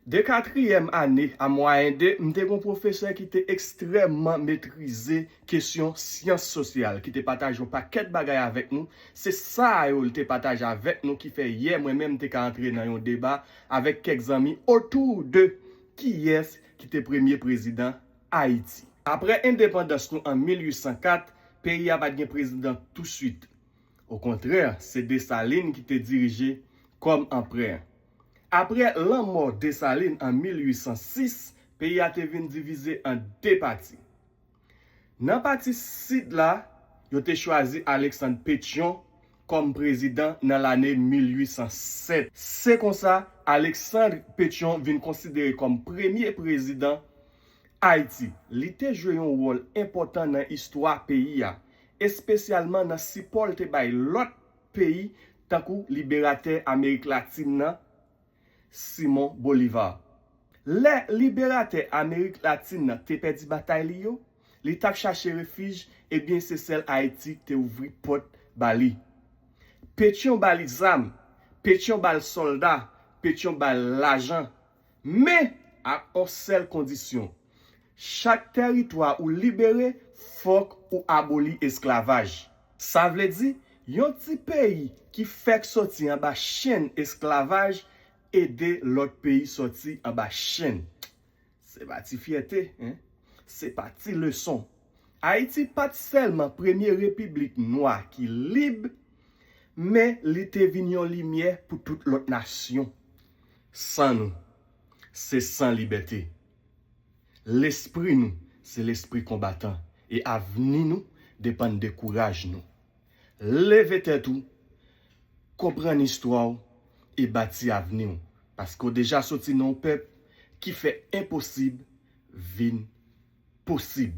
De katriyèm ane a mwayen de, m te gen yon pwofesè ki te ekstrèmman metrize kesyon syans sosyal, ki te pataje yon pakèt bagay avèk nou. Se sa yo l te pataje avèk nou ki fè yè mwen menm m te ka antre nan yon deba avèk kèk zanmi otou de kiyès ki te premye prezidan Ayiti. Apre endepandans nou an 1804, peyi a pa t gen prezidan tousuit. Okontrè, se Desalin ki te dirije kòm anprè. Apre lanmò Desalin an 1806, peyi a te vin divize an de pati. Nan pati sid la, yo te chwazi Aleksann Petyon kòm prezidan nan lane 1807. Se konsa, Aleksann Petyon vin konsidere kòm premye prezidan Ayiti. Li te jwe yon wòl enpòtan nan istwa peyi a espesyalman nan sipò l te bay lòt peyi tankou liberatè Amerik Latin nan, Simon Bolivar. Lè liberatè Amerik Latin nan te pèdi batay li yo, li t ap chache refij ebyen se sèl Ayiti k te ouvri pòt ba li. Petyon ba li zam, Petyon ba l sòlda, Petyon ba l lajan. Men, ak on sèl kondisyon, chak tèritwa ou libere, fòk ou aboli esklavaj. Sa vle di, yon ti peyi ki fèk sòti anba chenn esklavaj ede lòt peyi sòti anba chenn. Se pa ti fyète, hein! Se pa ti leson! Ayiti pa t sèlman premye repiblik nwa ki lib, men li te vin yon limyè pou tout lòt nasyon. San nou, se san libète. Lespri nou, se lespri konbatan e avni nou depann de kouraj nou. Leve tèt ou, konprann istwa w e bati avni w, paske w deja soti nan yon pèp ki fè enposib vin posib.